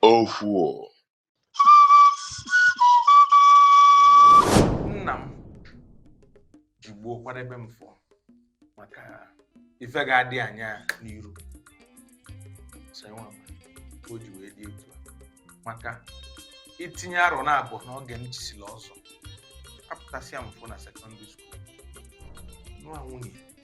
Ofuo. Nna m ji gboo kwadebe m fọ maka ife ga-adị anya n'iru so enwe ama ka o ji wee dị etu a maka itinye arọ naabọ n'oge m chisila ọzọ apụtasịa m fụ na sekọndịrị skuul nụa nwunye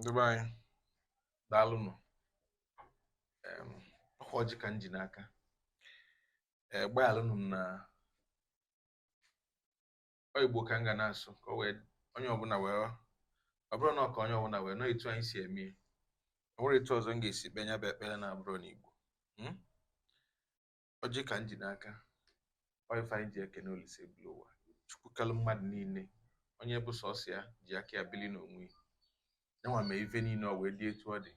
ndị be anyị daalụnụ ọkwa ọjị ka m ji n'aka ee gbaalụnụ m na ọ igbo ka m ga na-asụ ka o wee onye ọbụna wee ọ bụrụ na ọ ka onye ọbụna wee nụ etu anyị si eme ya o nwerọ etu ọzọ m ga-esi kpee nya bụ ekpele na-abụrọ n'igbo ọjị ka m ji n'aka ọ ife anyị ji ekene olise ebulu ụwa chukwu kalụ mmadụ niile onye bụ sọsọ ya ji aka ya bili n'onwe ya nyanwa mee ife niile ọ wee dị etu ọ dị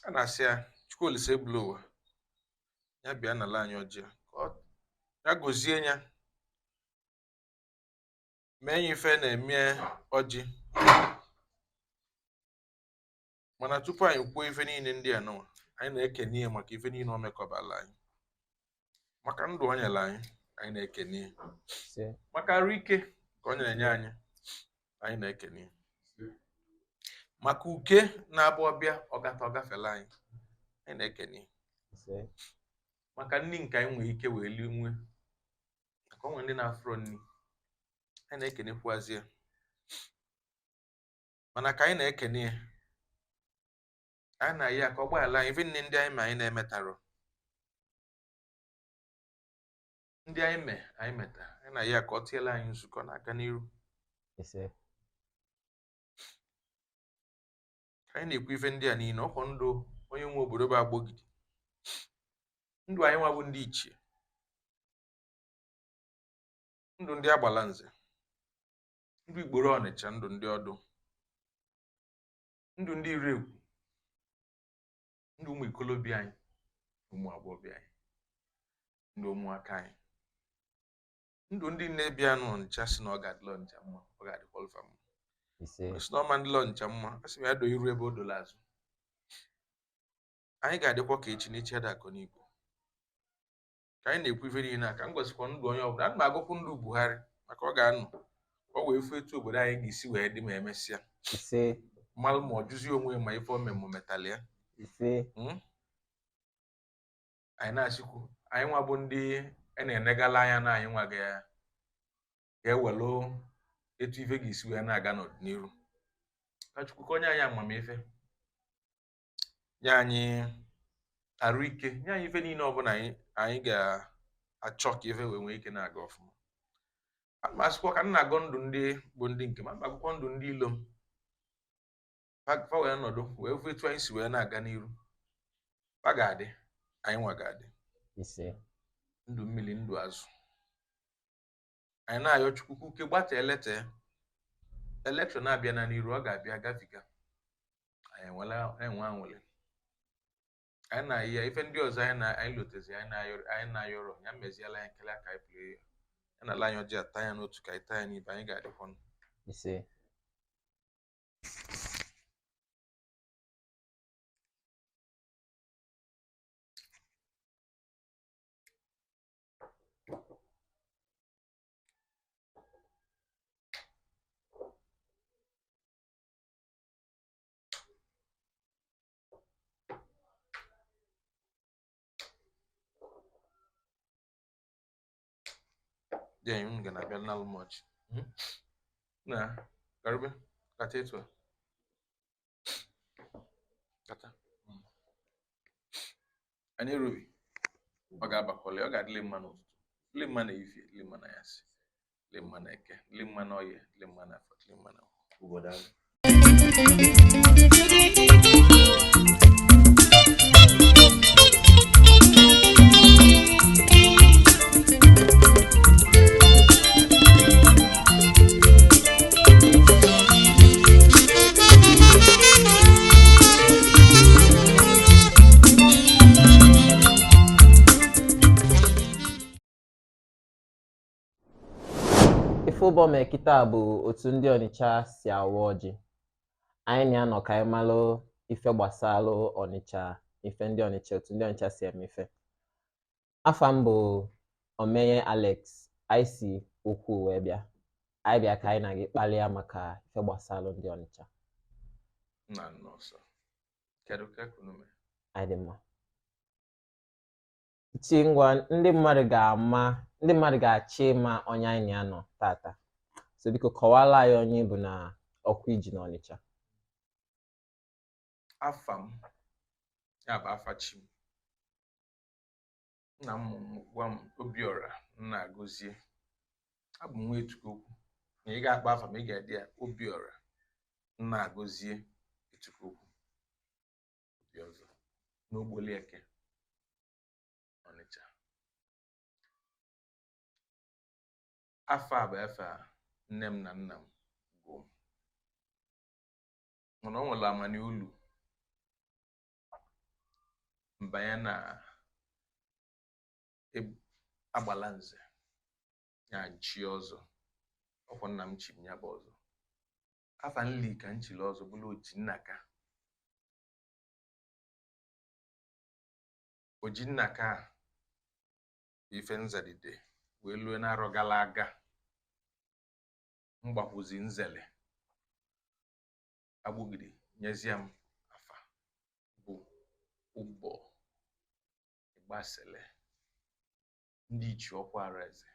a na-asị ya chukwu olise ebulu ụwa ya bịa nala anyị ọjị a ka ọ ya gozie nya mee nya ife a na-eme ọjị mana tupu anyị kwuo ife niile ndị a nụwa anyị na-ekene ya maka ife niile o mekọbala anyị maka ndụ o nyelu anyị anyị na-ekene ya maka arụ ike ka ọ na-enye anyị anyị na-ekene ya maka uke na-abụ ọ bịa ọ gata ọ gafela anyị anyị na-ekene ya maka nni nke anyị nwere ike wee lie nwe maka e nwe ndị na-afụrọ nni anyị na-ekenekwazi ya mana ka anyị na-ekene ya anyị na-ayọ ya ka ọ gbayala anyị ife niine ndị anyị me anyị na-emetarọ ndị anyị me anyị meta anyị na-ayọ ya ka ọ tiela anyị nzukọ na-aga n'iru ka anyị na-ekwu ife ndị a niile ọkwa ndụ onye nwe obodo bụ agbogidi ndụ anyị nwa bụ ndị ichie ndụ ndị agbalanze ndụ ikporo ọnịcha ndụ ndị ọdụ ndụ ndị iregwu ndụ ụmụ ikolobịa anyị ụmụ agbọghọbịa anyị ndụ ụmụaka anyị ndụ ndị niine bịanụ ọnịcha si na ọ ga-adịla ọnịcha mma ọ ga-adịkwalụ fa mma ise si na ọ ma-adịla ọnịcha mma a sị m ya doo iru ebe o dola azụ anyị ga-adịkwa ka echi n'echi ada akọ n'igwe ka anyị na-ekwu ife niile a ka m gọsịkwa ndụ onye ọbụla ana m agọkwu ndụ Buhari maka ọ ga-anọ ka ọ wee fụ etu obodo anyị ga-esi wee dị mma emesịa mmalụ ma ọ jụzie onwe ma ife omemụ metali ya hmm? anyị na-asịkwu anyị nwa bụ ndị a na-enegala anya na anyị nwa ga-ewelụ etu ife ga-esi wee na-aga n'iru ka Chukwu ka o nye anyị amamife nye anyị arụ ike nye anyị ife niile ọbụna anyị anyị ga-achọ ka ife wee nwee ike na-aga ọfụma ma asịkwa ka m na-agọ ndụ ndị bụ ndị nke m ana m agọkwu ndụ ndị ilo m fa wee nọdụ wee fụ etu anyị si wee na-aga n'iru fa ga-adị anyị nwa ga-adị ndụ mmili ndụ azụ anyị na-ayọ chukwu ka uke gbata elete elekshọn abịa na n'iru ọ ga-abịa gabiga anyị enwela enwe anwụlị anyị na ya ife ndị ọzọ anyị na anyị lotezi anyị na-ayọrọ anyị na-ayọrọ ya meziela anyị nkele aka anyị pụrụ ya ya na ala anyị ọjị a taa ya n'otu ka anyị taa ya n'ibe anyị ga-adịkwa ndụ ise dị anyị unu ga na-abịa nalụ m ọjị na karịbe kata etu a anyị n'iru ọ ga-abakwali ọ ga-adịlị mma n'ụtụtụ dịlị mma n'efifie dịlị mma n'anyasị dịlị mma na eke dịlị mma na oye dịlị mma na afọ dịlị mma na obodo ahụ ife ụbọ mee kịta bụ otu ndị ọnịcha si awa ọjị anyị na-anọ ka anyị malụ ife gbasalụ ọnịcha ife ndị ọnịcha otu ndị ọnịcha si eme ife afa m bụ Omeye Alex anyị si ukwu wee bịa anyị bịa ka anyị na gị kpalịa maka ife gbasalụ ndị Ọnịcha na nọọsụ kedu ka unu mee anyị dị mma chi ngwa ndị mmadụ ga-ama ndị mmadụ ga-achọ ịma onye anyị na ya nọ taata so biko kọwala anyị onye ị bụ na ọkwa i ji na Ọnịcha afa m ya bụ afa chi m nna m gwa m obiọra nnagọzie abụ m nwa etukokwu na ị ga-akpọ afa m ị ga-adị ya obiọra nnagọzie etukokwu obi ọzọ n'ogbolieke ọnịcha afa a bụ afa nne m na nna m gụọ m mana ọ nwere amani o lu m banye na e- agbalanze ya m chie ọzọ ọkwọ nna m chi m ya bụ ọzọ afa nli ka m chili ọzọ bụlụ ojinnaka ojinnaka a bụ ife m zadide wee lue n'arọ gala aga m gbakwuzi nzele agbọgidi nyezie m afa bụ ụbọ ịgbasele ndị ichie ọkwaraeze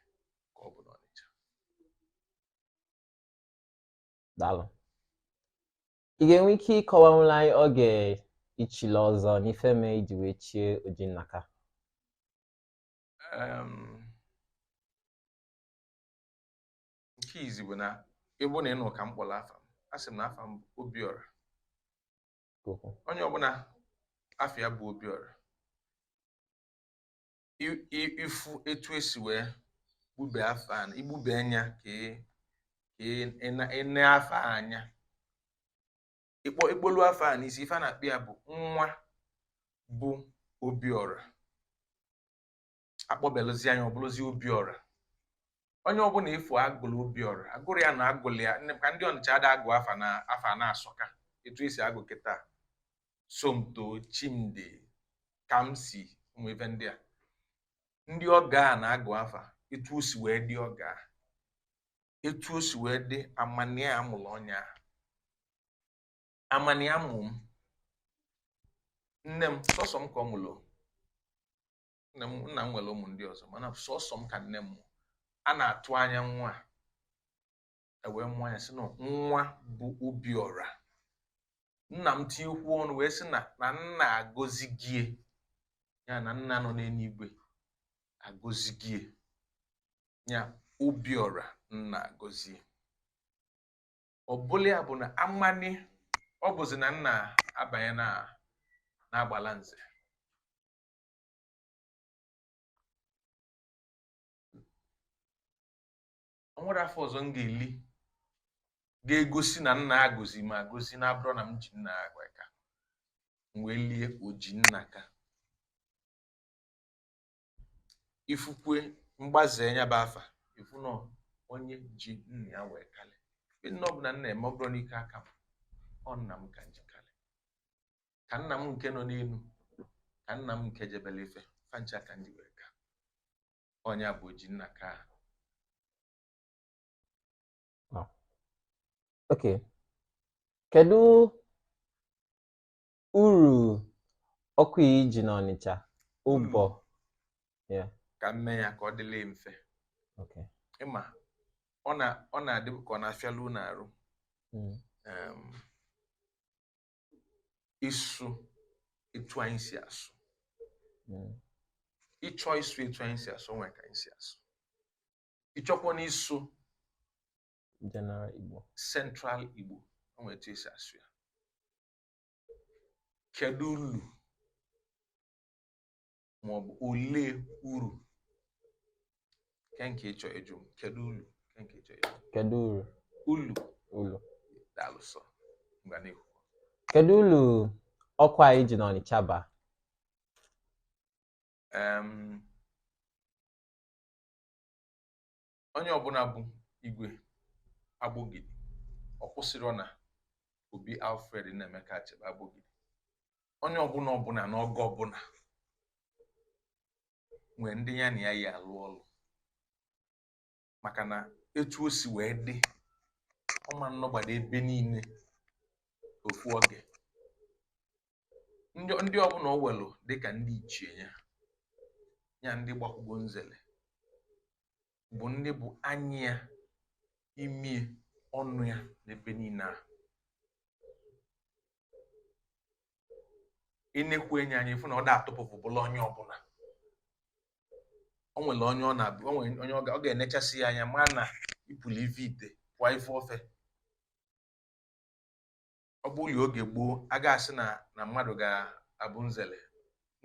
ka ọ bụ n'Ọnịcha daalụ ị ga-enwe ike ịkọwanwụlụ anyị oge i chili ọzọ na ife mee i ji wee chie Ojinnaka nke izizi bụ na ịbụ na ị nụ ka m kpọrọ afa m asị m na afa m bụ obiọra onye ọbụla afa ya bụ obiọra ị fụ etu e si wee gụbe afa igbube anya ka i nee afa anya ịkpọ ị kpọlụ afa a n'isi ife a na-akpọ ya bụ nwa bụ obiọra a kpọbelụzia nya ọ bụlụzi obiọra onye ọbụla ị fụ a gụrụ obiọra a gụrụ ya na a gụrụ ya ka ndị ọnịcha ada agụ afa na afa na-asọka etu e si agụ kịta somto chimdi kamsi ụmụ ife ndị a ndị ọga a na-agụ afa etu o si wee dị ọga etu o si wee dị amani a mụrụ onye a amani a mụ m nne m sọsọ m ka ọ mụrụ nna m nwere ụmụ ndị ọzọ mana sọsọ m ka nne m mụ a na-atụ anya nwa e wee mụọ ya sị na nwa bụ obiọra nna m tinyekwu ọnụ wee sị na na nna agọzigie ya na nna nọ n'enuigwe agọzigie ya obiọra nnagọzie ọ bụlụ ya bụ na amani ọ bụzi na m na-abanye na agbalanze nwedụ afa ọzọ m ga-eli ga-egosi na nna agọzi m agọzi na abụrọ na m ji nna wee ka m wee lie Ojinnaka ị fụkwa mgbazi ya bụ afa ị fụ na onye ji nna ya wee kalị nne ọ bụ na nna eme ọ bụrọ n'ike aka m ọ nna m ka m ji ka nna m nke nọ n'enu ka nna m nke jebelu ife fa ncha ka m ji wee ka ọ nya bụ Ojinnaka ok kedu uru ọkwa i ji n'Ọnịcha ba Yeah. ka m mee ya ka ọ dịla mfe ok ị ma na ọ na-adị ka ọ na-afịalụ unu arụ Mm. um, ịsụ etu anyị si asụ hmm. ị chọọ ịsụ etu anyị si asụ nwere ka anyị si asụ ị chọkwanụ ịsụ general Igbo central Igbo nwere etu e si asụ ya kedu ulu maọbụ olee uru nke ị chọ ịjụ kedu uru nke ị chọ ịjụ kedu uru ulu ulu daalụ sọ mgbe n'ihu kedu ulu ọkwa anyị ji n'Ọnịcha ba onye ọbụna bụ igwe agbogidi ọ kwụsịrị na obi alfred nnaemeka achebe agbogidi onye ọbụna ọbụna n'oge ọbụna nwere ndị ya na ya yi alụ ọlụ maka na etu o si wee dị ọ ma nọgbado ebe niile ofu oge ndị ọ bụ na o welụ dịka ndị ichie ya ya ndị gbakwụgo nzele bụ ndị bụ anya ya imi ọnụ ya n'ebe niile a ị nekwue nya anya ị fụ na ọ da-atụpụfụ ọbụla onye ọbụna o nwere onye ọ na-abụ o nwere onye ọ ga- ọ ga-enechasị ya anya ma na ị pụlụ ive ite pụọ ife ofe ọ bụlụ oge gboo a ga-asị na na mmadụ ga-abụ nzele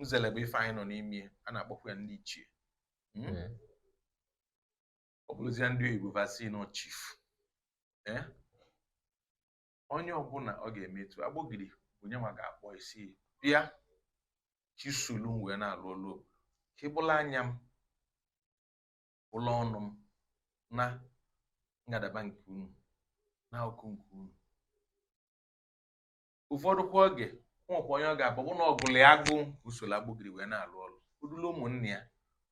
nzele bụ ife anyị nọ n'ime a na-akpọkwa ya ndị ichie hmm? hmm. ọ bụlụzịa ndị oyibo va sị na ọ chief eh? onye ọbụla ọ ga-eme etu agbogidi bụ nya nwa ga-akpọ ị sị bịa ka i solu m wee na-alụ ọlụ ka ị bụlụ anya m ụlọ ọnụ m na ngadaba nke unu na akụkụ nke unu ụfọdụ kwa oge o nwekwa onye ọ ga-abụ bụ na ọ gụlụ ya agụụ o soro Agbogidi wee na-alụ ọlụ o dulu ụmụnne ya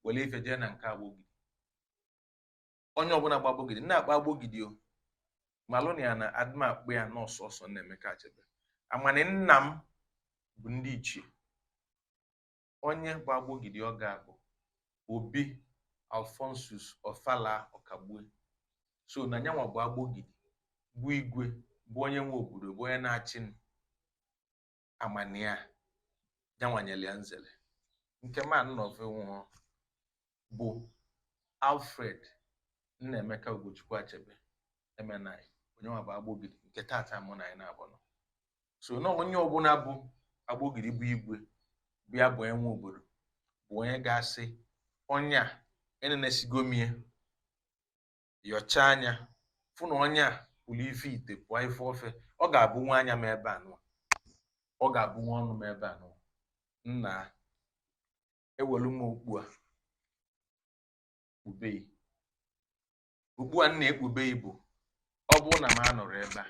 were ife jee na nke Agbogidi onye ọbụla bụ Agbogidi na-akpọ Agbogidi ọ malụ na ya na adịm akpụ ya n'ọsọ ọsọ Nnaemeka Achebe amani nna m bụ ndị ichie Onye bụ Agbogidi oge a bụ Obi Alphonsus Ofala Okagbue so na nyanwa bụ Agbogidi bụ igwe bụ onye nwe obodo bụ onye na-achị amania nyanwa nyere ya nzere nke man nọve nwụọ bụ Alfred Nnaemeka Ugochukwu Achebe MNI onye nwa bụ Agbogidi nke taata mụ na ya naabọ nọ so na onye ọbụla bụ Agbogidi bụ igwe bịa bụ nwe obodo bụ onye ga-asị onye a enenesigo m ya yọcha anya fụ na onye a pụrụ ife ite pụọ ife ofe ọ ga-abụnwu anya m ebe anụwa ọ ga-abụnwu ọnụ m ebe anụwa nna ewelu m okpu a kpube gị okpu a m na-ekpube gị bụ ọ bụrụ na m anọrọ ebe a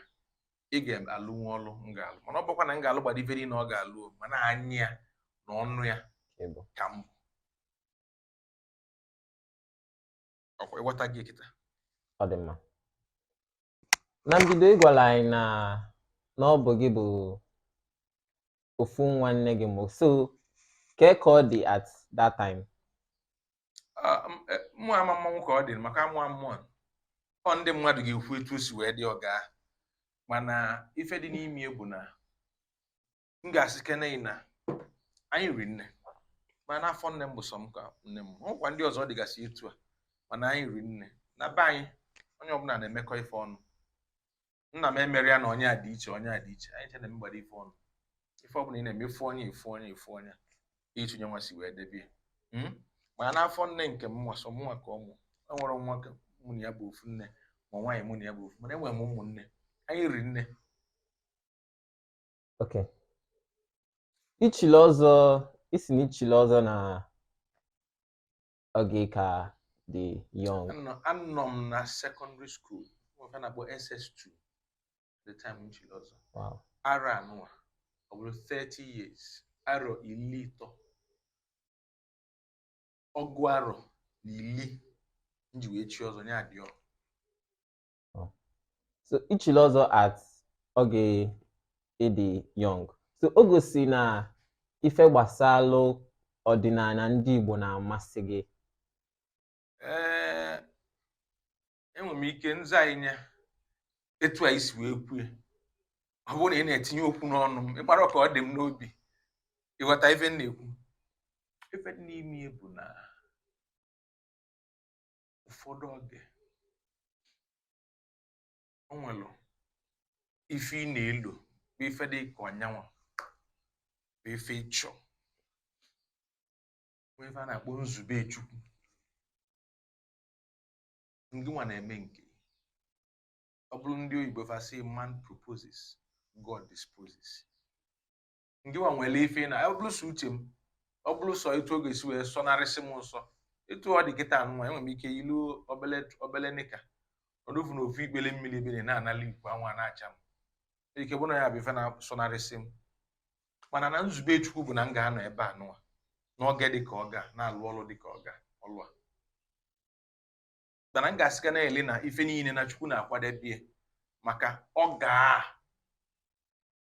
ị ga-alụnwu ọlụ m ga-alụ mana ọ bụrọkwa na m ga-alụgbado ife niile ọ ga-alụ mana anya ya na ọnụ ya ka m bụ ọkwa ị ghọtago kịta ọ dị mma na mbido ị gwara anyị na na ọ bụ gị bụ ofu nwa nne gị mụ so kee ka ọ dị at that time Ah, m- eh, mụ amamanwu ka ọ dị maka amụ a mụọ m ọ ndị mmadụ ga-ekwu etu o si wee dị ọga mana ife dị n'ime bụ na m ga-asị kene na anyị riri nne ma n'afọ nne m bụ sọ m ka nne m ọkwa ndị ọzọ dịgasị etu a mana anyị riri nne na be anyị onye ọbụla na-emekọ ife ọnụ nna m emerọ ya na onye a dị iche onye a dị iche anyị ncha na-emegbado ife ọnụ ife ọbụla ị na-eme ị fụ onye ị fụ onye ị fụ onye etu nyanwa si wee debe ya hmm? ma n'afọ nne nke m nwa sọ m nwa ka ọ mụ enwerọ nwoke mụ na ya bụ ofu nne ma nwaanyị mụ na ya bụ ofu mana enwere m ụmụnne anyị riri nne Okay. I chili ọzọ ị sị na i chili ọzọ na oge ị ka dị young. Anọ anọ m na secondary school nke a na-akpọ SS2 the time m chili ọzọ Wow. arọ anụwa ọ bụrụ 30 years arọ iri ịtọ ọgụ arọ na iri m ji wee chi ọzọ ya dị ọ Oh. so i chili ọzọ at oge ị dị young so o gosi na ife gbasalụ ọdịnana ndị Igbo na-amasị gị ee enwere m ike nza anyị nye etu a i si wee kwue ọ bụrụ na ị na-etinye okwu n'ọnụ m ị gbara ka ọ dị m n'obi ị ghọta ife m na-ekwu ife dị n'ime ya bụ na ụfọdụ oge o nwere ife ị na-elo bụ ife dị ka ọ nya nwa bụ ife ị chọ nwee ife a na-akpọ nzube chukwu ngị nwa na-eme nke ọ bụrụ ndị oyibo fa sị man proposes god disposes ngị nwa nwere ife na ọ bụrụ sọ uche m ọ bụrụ sọ etu oge si wee sọnarịsị m nsọ etu ọ dị kịta nwa enwere m ike yilu obele obele nika nọdụ na ofu ikpele mmiri ebe m na-anala ikuku anwụ na-acha m ike bụ na ya bụ ife na-asọnarịsị m mana na nzube chukwu bụ na m ga-anọ ebe a nụwa n'oge dị ka oge a na-alụ ọlụ dị ka ọ ga ọlụ a mana m ga-asị gị na-ele na ife niine na chukwu na-akwadebe m maka oge a